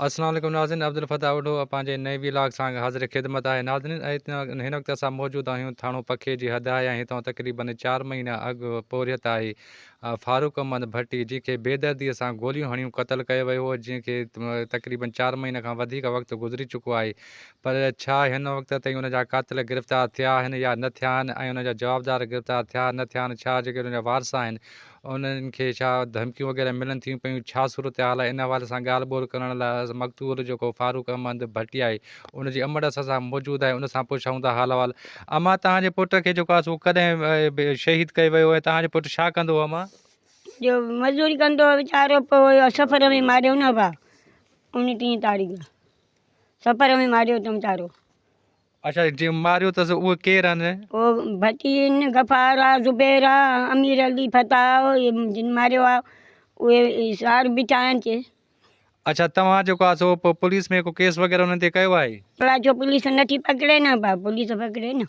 السلام عليڪم ناظرين عبدالفتاح اوڍو پنهنجي نئين وي لاگ سانگ حاضر خدمت آهي ناظرين ۽ هن وقت اسان موجود آهيون ٿاڻو پکي جي حد آهي ۽ هتان تقريبن چار مهينا اڳ پورهيت آهي فاروق احمد ڀٽي جنهن کي بيدردي سان گوليون هڻيون قتل ڪيو ويو هو جنهن کي تقريبن چار مهينا کان وڌيڪ وقت گذري چڪو آهي پر ڇا هن وقت تائين ان جا قاتل گرفتار ٿيا آهن يا نه ٿيا آهن ۽ ان جا جوابدار گرفتار ٿيا نه ٿيا آهن ڇا جيڪي ان جا وارث آهن انهن کي ڇا ڌمڪيون وغيره ملن ٿيون پيون ڇا صورتحال آهي ان حوالي سان ڳالهه ٻولهه ڪرڻ لاء اسان مقتول جيڪو فاروق احمد ڀٽيائي ان جي امڙ اسان سان موجود آهي ان سان پڇائون ٿا حال احوال امان توهان جي پٽ کي جيڪو آهي سو ڪڏهن شهيد ڪيو ويو ۽ توهان جو پٽ ڇا ڪندو هو امان جو مزوري ڪندو هو ويچارو پوء سفر ۾ ماريو نه ڀا انيس تاريخ سپر ۾ ماريو تم چارو. اچا جنهن ماريو اٿس اهي ڪير آهن؟ او ڀٽين غفار آ زبير آ امير علي فتاح آ جن ماريو آ اهي سار بيٺا آهن چي. اچا توهان جيڪو آ سو پوليس ۾ ڪو ڪيس وغيره انهن تي ڪيو آهي؟ الاء ڇو پوليس نٿي پڪڙي نه پوليس پڪڙي نه.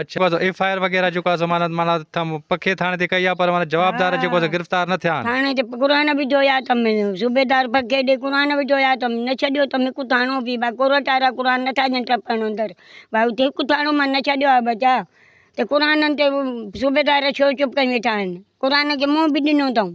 اچ جيڪو آ ايف آء آر وغيره جيڪو آ معنيٰ معنيٰ پکي ٿاڻي تي ڪئي آ پر معنيٰ جوابدار جيڪو آ سو گرفتار نه ٿيا آھن. ٿاڻي تي قرآن به جويا تم صوبيدار پکي ڏي قرآن به جويا تم نه ڇڏيو تم هڪ ٿاڻو به با ڪورٽ وارا قرآن نٿا ڏين ٽپڻ اندر با اتي هڪ ٿاڻو مان نه ڇڏيو آ بچا ته قرآنن تي صوبيدار ڇو چپ ڪري ويٺا آھن قرآن کي منهن به ڏنو اٿئون.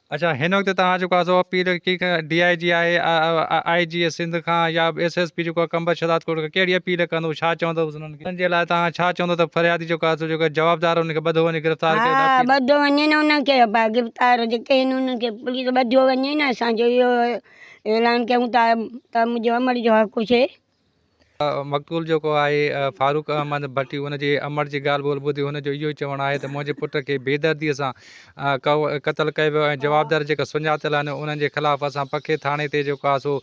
اڇا هن وقت توهان جيڪو آ سو اپيل ڪي ڪا ڊي آء جي آهي آء آء جي سنڌ کان يا ايس ايس پي جيڪو آ قمبر شهداد ڪوٽ کان ڪهڙي اپيل ڪندو ڇا چوندوس انهن کي ان جي لاء توهان ڇا چوندو ته فريادي جيڪو آ سو جيڪو جوابدار انهن کي ٻڌو وڃي گرفتار ڪري ها اپيل ٻڌو وڃي نه انهن کي با گرفتار جيڪي آهن انهن کي پوليس ٻڌو وڃي نه اسان جو اهو اعلان ڪيون ٿا ته منهنجو امڙ جو حق هجي مقتول جيڪو آهي فاروق احمد ڀٽي ان جي امڙ جي ڳالهه ٻولهه ٻڌي ان جو اهو چوڻ آهي ته منهنجي پٽ کي بيدردي سان قتل ڪيو ويو ۽ جوابدار جيڪا سڃاتل آهن انهن جي خلاف اسان پکي ٿاڻي تي جيڪو آهي سو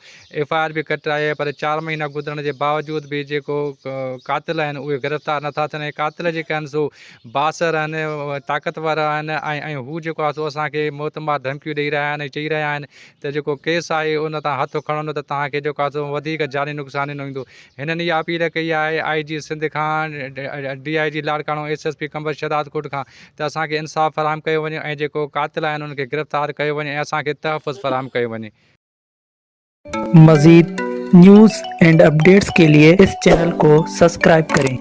ايف آء آر به ڪٽرائي آهي پر چار مهينا گذرڻ جي باوجود به جيڪو قاتل آهن اهي گرفتار نٿا ٿين ۽ قاتل جيڪا آهن سو بااثر آهن طاقتور آهن ۽ هو جيڪو آهي سو اسان کي موت مار ڌمڪيون ڏئي رهيا آهن ۽ چئي رهيا آهن ته جيڪو ڪيس آهي ان تان هٿ کڻندو ته توهان کي جو ڪاتو وڌيڪ جاني نقصان نه ايندو. هنن اها اپيل ڪئي آهي آء جي سنڌ کان، D I G Larkana, S S P Qambar Shahdadkot کان ته اسان کي انصاف فراهم ڪيو وڃي ۽ جيڪو قاتل آهن انهن کي گرفتار ڪيو وڃي ۽ اسان کي تحفظ فراهم ڪيو وڃي. مزيد نيوز اينڊ اپڊيٽس ڪي لئي اس چينل ڪو سبسڪرائب ڪرين.